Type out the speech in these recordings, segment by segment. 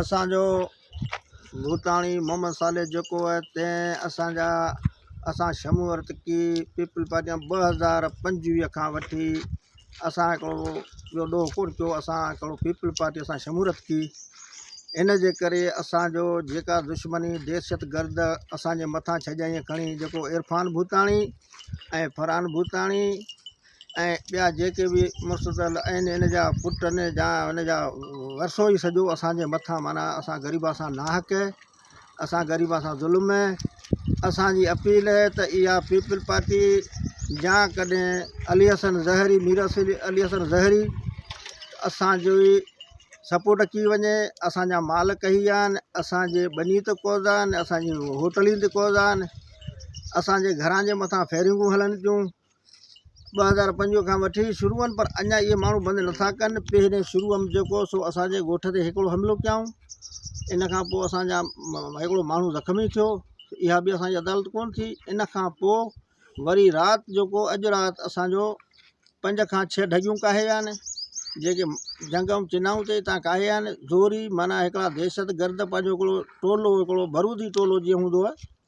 اسان جو ڀوتاڻي محمد صالح جيڪو آهي تنهن اسان جا اسان شمون ارتقي پيپل پارٽي ٻه هزار پنجويهه کان وٺي اسان هڪڙو ٻيو ڏوهه ڪونه ٿيو اسان هڪڙو پيپل پارٽي اسان شمون ارتقي ان جي ڪري اسان جو جيڪا دشمني دهشت گرد اسان جي مٿان ڇڄائين کڻي جيڪو عرفان ڀوتاڻي ۽ فرحان ڀوتاڻي ۽ ٻيا جيڪي به مستطيل آهن ان جا پٽ آهن جا ان جا ورثو ئي سڄو اسانجي مٿان معنيٰ اسان غريبان سان ناحق اسان غريبان سان ظلم اسانجي اپيل آهي ته اها پيپل پارٽي جا ڪڏهن علي حسن زهري مير علي حسن زهري اسانجو ئي سپورٽ ڪي وڃي اسانجا مال ڪهي ويا آهن اسانجي ٻني تي قوضا آهن اسانجي هوٽلين تي قوضا آهن اسانجي گهران جي مٿان فيرنگون هلن ٿيون ٻه هزار پنج کان وٺي شروع آهن پر اڃا اهي ماڻهو بند نٿا ڪن پهرين شروع ۾ جيڪو سو اسان جي ڳوٺ تي هڪڙو حملو ڪيائون ان کان پوء اسان جا هڪڙو ماڻهو زخمي ٿيو اها به اسان جي عدالت ڪون ٿي ان کان پوء وري رات جيڪو اڄ رات اسان جو پنج کان ڇهه ڍڳيون ڪاهي آهن جيڪي جنگ ۽ چنائون تي تان ڪاهي آهن زوري معناها هڪڙا دهشت گرد پنهنجو هڪڙو ٽولو هڪڙو برودي ٽولو جيئن هوندو آهي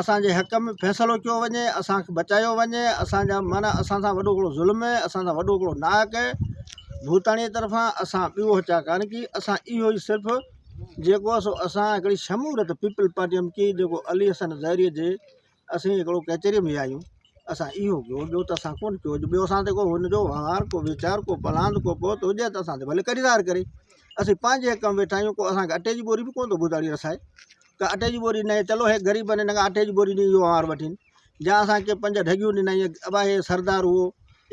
اسان جي حق ۾ فيصلو ڪيو وڃي اسان کي بچايو وڃي اسان جا معنيٰ اسان سان وڏو ڪھڙو ظلم ھي اسان سان وڏو ڪھڙو ناحق ھي ڀوتاڻي طرفان اسان ٻيو چاھه ڪانه ڪي اسان اھو ئي صرف جيڪو سو اسان ھڪڙي شمورت پيپل پارٽي ھم ڪي جيڪو علي حسن زھري جي اسين ھڪڙو ڪچھري ۾ ويا آھيون اسان اھو ڪيو ٻيو ته اسان ڪونھ ڪيو ٻيو اسان تي ڪو ھن جو وھنوار ڪو ويچار ڪو پلاند ڪو پوت ھجي ھا ته اسان تي ڀلي ڪري ظاھر ڪري اسين پنھنجي حق ۾ ويٺا آھيون ڪو اسان کي اٽي جي ٻوري به ڪونھ ٿو ڀوتاڻي رسائي ڪا اٽي جي ٻوري نئين چلو هيڪ غريب نئين ڪا اٽي جي ٻوري نئين يو هار وٺين جا اسان کي پنج ڍڳيون ڏنائين ابا هي سردار هو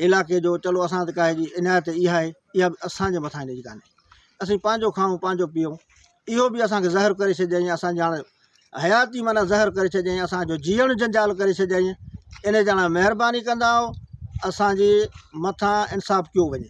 علاقي جو چلو اسان ته ڪاهي جي عنايت اها آهي اها اسان جي مٿان جي ڪانهي اسين پنهنجو کائون پنهنجو پيئون اهو به اسان کي زهر ڪري ڇڏيائين اسان جي هاڻي حياتي معنی زهر ڪري ڇڏيائين اسان جو جيئڻ جنجال ڪري ڇڏيائين ان جاڻا مهرباني ڪندا اسان جي مٿان انصاف ڪيو وڃي